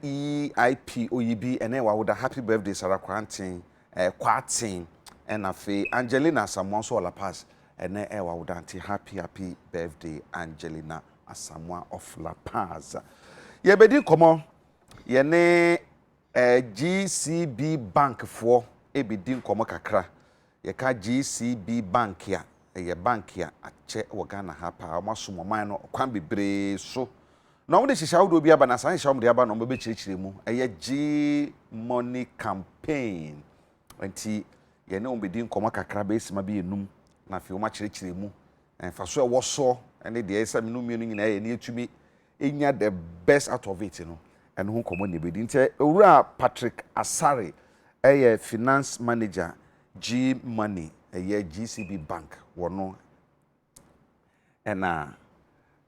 EIP oyibi ɛnɛ wawoda happy birthday Sarah Kwaranteng eh, Kwarteng ɛna afei Angelina Asamoah nso wɔ La Paz ɛnɛ ɛyɛ wawoda nti happy happy birthday Angelina Asamoah of La Paz yɛbɛdi nkɔmɔ yɛne eh, GCB bank foɔ ɛbɛdi nkɔmɔ kakra Yɛka GCB Bank a, ɛyɛ bank a akyɛ wɔ Ghana ha paa. Wɔasom ɔman no ɔkwan bebree so. Na wɔde nhyehyɛe ahodoɔ bi aba, na saa nhyehyɛe a wɔde aba no wɔbɛkyerɛkyerɛ mu. Ɛyɛ G-Money Campaign. Nti yɛne wɔn bɛdi nkɔmmɔ kakra bɛyɛ sima bɛyɛ nnum, na afei wɔakyerɛkyerɛ mu mfasoɔ a ɛwɔ soɔ ne deɛ ɛsɛ sɛ mene wo mmienu nyinaa yɛ na yɛtumi nya the best out of it no, ɛno ho nkɔmmɔ na yɛbɛdi. Nti Owura Patrick Asare yɛ Finance Manager G-Money, ɛyɛ GCB Bank, wɔno ɛna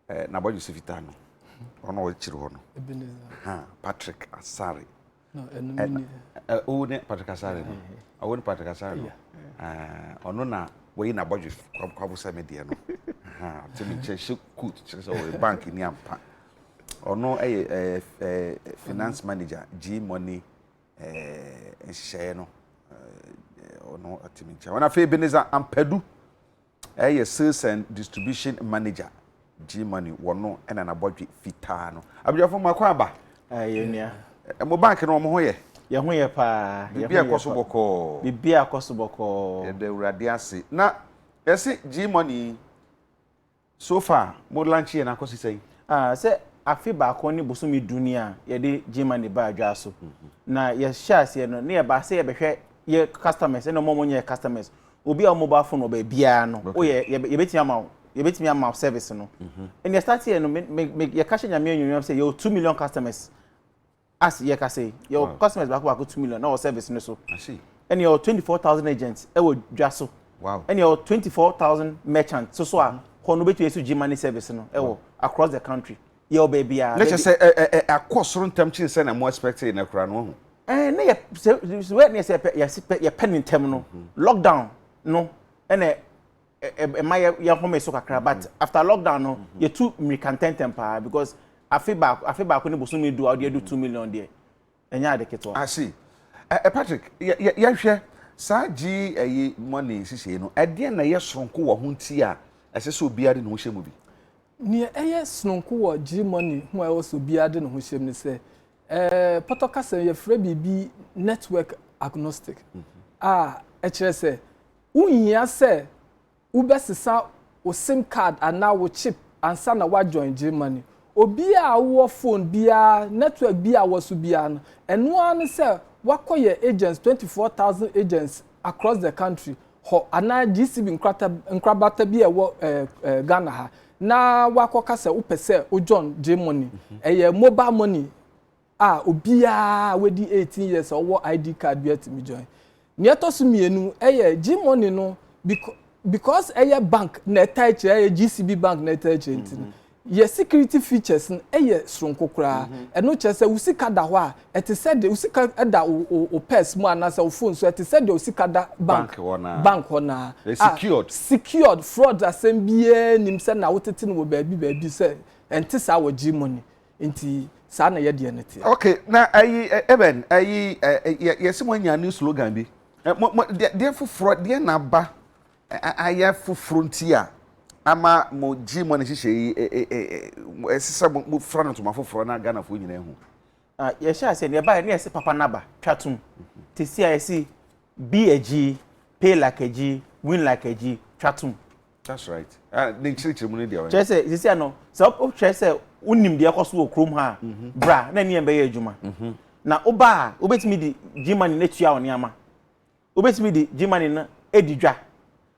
N'abɔdwesɛ Fitaa no, ɔno a ɔkyiri hɔ no, Patrick Asare. No, ɛno ne ne. Owu ne Patrick Asare no. Owu ne Patrick Asare no. Ɔno na wɔyi na bɔdwe kwabo sɛ me deɛ no. Te me nkyɛn hyɛ coat kyerɛ sɛ ɔyɛ bank ni ampa. Ɔno yɛ finance manager G Money nhyehyɛeɛ no. Ɔno te me nkyɛn. Ɔno afei Ebenezer Ampadu Ɛyɛ sales and distribution manager G money wɔ no na nabɔdwe fitaa no abusuafo mo akɔ aba. Aah yɛn nua. Mo bank no wɔn ho yɛ. Yɛn ho yɛ paa. Biribi a ɛkɔso bɔkɔɔ. Biribi a ɛkɔso bɔkɔɔ. Yɛda awurade ase. Na yɛse G money yi so far mo launch yɛ no akɔsi sɛn? Aah sɛ afe baako ne bosome du ni a yɛde G money baa dwa so. Na yɛhyɛɛ aseɛ no na yɛbaa sɛ yɛbɛhwɛ yɛ customers ɛna wɔn a wɔnyɛ yɛ customers. obi a wo mobile phone wɔ baabiara no okay. woyɛ yɛbɛtumi ama wo yɛbɛtumi ama wo service no mhm. ɛnna start yɛ no yɛka hyɛ nyame anuonyam sɛ yɛwɔ two million customers as yɛka sɛ yɛwɔ customers baako baako two million na wɔ service no so ɛnna yɛwɔ twenty four thousand agents ɛwɔ dwa so ɛnna yɛwɔ twenty four thousand merchants so so a mhm. kɔn no bɛtumi ɛso gye money service no ɛwɔ across the country. yɛ ɔbɛ biara. ne kyɛ sɛ ɛ ɛ ɛ akɔ soro ntɛm kyen sɛ na mo expect yɛ na kura no ho. ɛɛ ne yɛ sɛ sɛ ne sɛ yɛ sɛ pɛ yɛ pɛ ne ntɛm no mhm. lockdown no ɛna ɛma yɛ yɛ home so kakra but mhm. after lockdown no mhm. yɛ tu mirika ntɛntɛm paa because afe baako afe baako ne bosomi du a ɔde adu two million deɛ ɛnyɛ ade ketewa. I see. Ɛ-ɛ Patrick, yɛ-yɛ-yɛhwɛ saa GIE money nhyehyɛe no, ɛdeɛn na ɛyɛ sononko wɔ ho nti a ɛsɛ sɛ obiara de ne ho hyɛ mu bi? Nea ɛyɛ sononko wɔ GIE money ho a ɛwɔ sɛ obiara de ne ho hyɛ mu ne sɛ, ɛ-ɛ pɔtɔ kasa mu yɛfrɛ biribi network agnostic a ɛkyerɛ sɛ wonhia sɛ wobɛsesa wo sim card anaa wo chip ansa na woajoin GMoney. Obiaa a wowɔ phone biaa, network bi a wɔso biaa no, ɛno ara ne sɛ woakɔ yɛn agents, twenty four thousand agents across the country, hɔ anaa GCB nkrata nkrabata bi a ɛwɔ ɛɛ Ghana ha na woakɔka sɛ wopɛ sɛ wojoin GMoney. Ɛyɛ mobile money. a obiara a wadi eighteen years a ɔwɔ ID card biara tumi join. Nea ɛtɔ so mmienu yɛ Gmoney no becau because ɛyɛ bank na ɛtaa kyerɛ ɛyɛ GCB bank na ɛtaa kyerɛ nti no yɛ security features no yɛ soronko koraa. Ɛno kyerɛ sɛ wo sika da hɔ a ɛte sɛ deɛ wo sika da wo wo wo purse mu anaasɛ wo phone so ɛte sɛ deɛ wo sika da bank Bank hɔ no ara. bank hɔ no ara. Ɛyɛ A secured. secured fraud asɛm biara nnim sɛ na wotete no wɔ baabi baabi sɛ ɛnte saa wɔ Gmoney. Nti saa na yɛdeɛ no teɛ. Ok na ayi Eben ayi yɛse mo anya new slogan bi mo mo deɛ foforɔ deɛ na aba ayɛ foforɔ nti a ama mo gye mo ne hyehyɛ yi ɛse sɛ mo fira no ntoma foforɔ na Ghanafoɔ nyina ahu. Yɛhyɛ ase no yɛbaɛ ne yɛse papa naba twa tom te si a yɛse be a G pay like a G win like a G twa tom that's right ah, ne nkyerɛkyerɛ mu no deɛ kyerɛ sɛ sisi ano sɛ wohwɛ sɛ wonim deɛ ɛkɔ so wɔ kurom ha a mhm. bra na ɛneɛ mbɛyɛ adwuma mhm. na woba a wobɛtumi de gmane no atua wo nneɛma wobɛtumi de gmane no adi dwa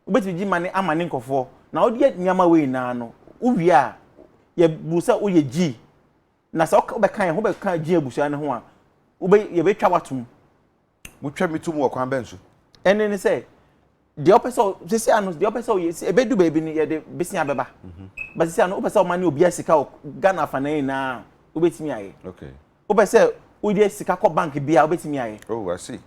wobɛtumi gmane ama ne nkɔfoɔ na wodeɛ nneɛma wei nyinaa no wowie a yɛbu sɛ woyɛ gyi na sɛ wobɛka yɛ ho bɛka gyi abusua no ho a yɛbɛtwa woatom Wotwa me to mu wɔ kwan bɛn so? Ɛne ne sɛ deɛ ɔpɛ sɛ sisi ano deɛ ɔpɛ sɛ ɔyɛ si ebedu baabi no yɛde besia bɛba mhm. ba sisi ano wopɛ sɛ ɔma ne obi asika wɔ Ghana afana yi na wobɛtumi ayɛ wopɛ sɛ wode sika kɔ bank bi a wobɛtumi ayɛ. oh i see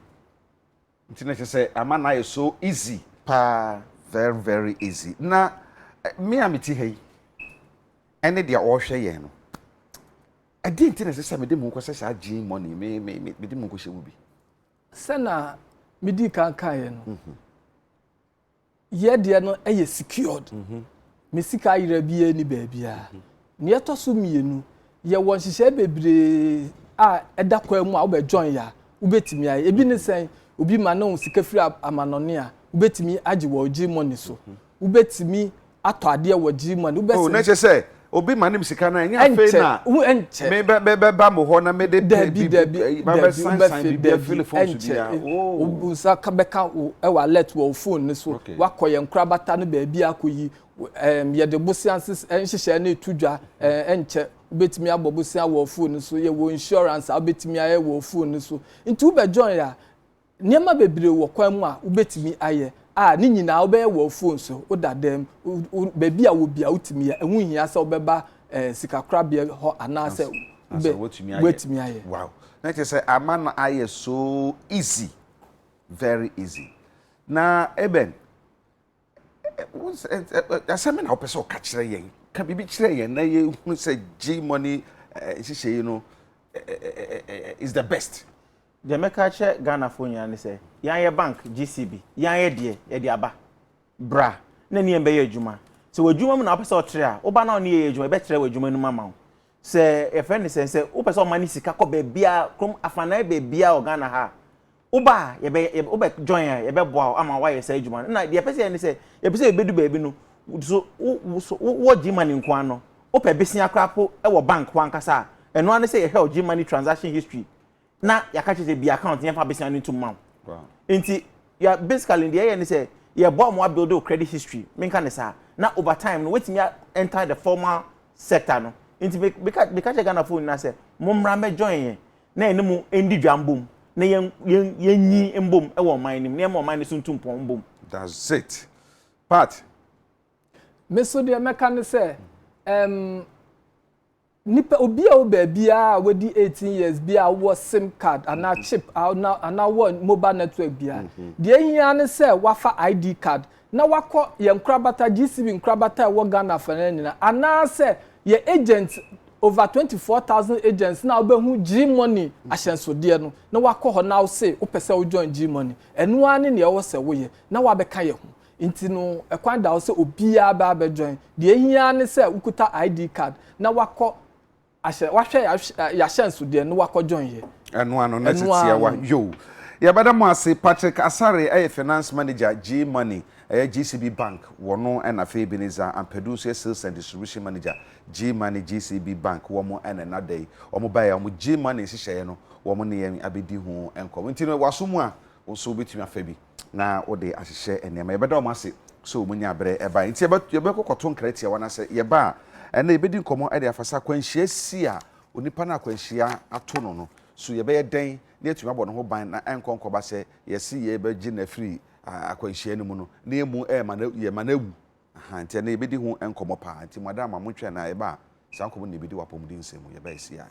nti na kyerɛ sɛ ama na ayɛ so easy. paa very very easy na eh, me a meti ha yi ɛne deɛ ɔrehwɛ yɛn no Ɛdeɛn nti na ɛsɛ sɛ mede mo kɔsɛ saa gene money me me me mede mo kɔhyɛ mu bi. Sɛ na medi kan kaeɛ no. Mhm. Yɛ deɛ no ɛyɛ secured. Mhm. Me sika ayera biara ni baabiara. Mhm. Nea ɛtɔ so mmienu, yɛwɔ nhyehyɛe bebree a ɛda kwan mu a wobɛ join ya wobɛtumi ayɛ. Ebi ne mhm. sɛn obi ma ne wo sika firi amanɔne a wobɛtumi agye wɔ gye money so. Mhm. wobɛtumi atɔ adeɛ wɔ gyiri mu a ne wobɛsɛ. o oh, na kyɛ sɛ obi ma nem sika no ɛnyɛ afei na mebɛba mo hɔ na mede pɛ bi mabɛsansan biribi afili fon so bia wo nsa bɛka ɛwɔ alert wɔ wo fon no so wakɔ yɛn korabata no baabi akɔyi yɛde bosea nhyehyɛɛ no ɛto dwa ɛnkyɛ wobɛtumi abɔ bosea wɔ fon no so yɛwɔ insurance a wobɛtumi ayɛ wɔ fon no so nti wobɛjoin a Nneɛma bebree wɔ kwan mu a wubetumi ayɛ a ne nyinaa wobɛyɛ wɔ wo fon so, wo dadam, baabi a wɔ biara wotumi yɛ. Ɛho nhia sɛ wobɛba sikakorabea hɔ anaasɛ woatumi ayɛ. Wow! Na kyerɛ sɛ ama no ayɛ so easy, very easy. Na Eben, asɛm na wopɛ sɛ ɔka kyerɛ yɛn ka biribi kyerɛ yɛn na yɛhunu sɛ gye mɔne nhyehyɛ yi no is the best deɛ mɛka kyerɛ ghanafoɔ nyinaa ne sɛ yɛayɛ bank gcb yɛayɛ deɛ yɛde aba bra na ne yɛn bɛyɛ adwuma sɛ w'adwuma mu na wopɛ sɛ ɔtere a woba na ɔne yɛyɛ adwuma yɛbɛtrɛ w'adwuma no mu ama wo sɛ yɛfrɛ ne sɛ sɛ wopɛ sɛ ɔma ne sika kɔ baabiaa krom afanaa baabiaa wɔ ghana ha a Woba a, yɛbɛ, yɛbɛ, wobɛ join a, yɛbɛboa wo ama woayɛ saa adwuma no. Ɛna deɛ ɛpɛ sɛ yɛ ne sɛ, yɛpɛ sɛ yɛbɛdu baabi no, so wo, wo, so wo, wɔ Gmoney nko ara no, wopɛ besia koraa po wɔ bank hɔ ankasa a, ɛno ara ne sɛ yɛhwɛ wo Gmoney transaction history na yɛaka kyerɛ sɛ bue account na yɛmfa besia no ntom ma wo. Wow. Nti, yɛ, basically deɛ yɛyɛ ne sɛ, yɛboa wɔn abuild wo credit history, menka ne saa, na over time no, woatumi a enter the formal sector no. Nti me, meka, meka kyerɛ Ghanafoɔ nyinaa sɛ, mommra mmɛjoin yɛn. na yɛne mo ndi dwa mbom, na yɛn yɛn yɛnyi mbom wɔ ɔman no mu, na yɛmma ɔman no so ntu mpɔn mbom. That's it. Pat. Me so deɛ mɛka ne sɛ, ɛm, nipa obi a wɔ baabiara a wadi 18 years bi a wɔ sim card anaa mm-hmm. chip anaa wɔ mobile network biara, mm-hmm. deɛ ehia ne sɛ wafa ID card na wakɔ yɛn nkorabata, GCV nkorabata a ɛwɔ Ghana afanaa nyinaa, anaasɛ yɛn agents, over twenty four thousand agents na wobɛhu Gmoney ahyɛnsodeɛ no, na wakɔ hɔ na wose wopɛ sɛ wo join Gmoney. Ɛno ara ne nea ɛwɔ sɛ woyɛ, na wabɛka yɛn ho. Nti no, ɛkwan da hɔ sɛ obiara bɛba abɛ join. Deɛ ɛhia ara ne sɛ wokuta ID card na wakɔ. ahyɛ wahwɛ yɛahyɛnsodeɛ no wakɔ join yɛ. ɛno ano na tetea wa yoo. Yɛbɛda mo ase Patrick Asare ɛyɛ finance manager G money ɛyɛ GCB bank wɔ no ɛna afei Ebenezer Ampadu nso yɛ sales and distribution manager G money GCB bank wɔn ɛna ɛna da yi wɔn baeɛ a wɔn G money nhyehyɛeɛ no wɔn ne yɛn abɛdi ho nkɔmɔ nti no waso mu a Wo nso wobɛtumi afa bi na wode ahyehyɛ nneɛma. Yɛbɛda wɔn ase sɛ wɔnyaa berɛ baeɛ. Enti yɛbɛkɔ kɔto nkra tia wɔn anaasɛ yɛba a, ɛnnɛ yɛbɛdi nkɔmmɔ de afa sɛ akwanhyia si a onipa no a akwanhyia ato no no, so yɛbɛyɛ dɛn na yɛatumi abɔ ne ho ban na ɛnkɔ nkɔba sɛ yɛse yɛbɛgye no afiri akwanhyia no mu no na yɛmmu ɛma no, yɛma no awu. Aha, enti ɛnnɛ yɛbɛdi ho nkɔmmɔ paa. Enti madam a montwɛn na yɛba a saa nkɔmmɔ no na yɛbɛdi wɔ apɔmuden nsɛm mu. Yɛba a ɛsi ae.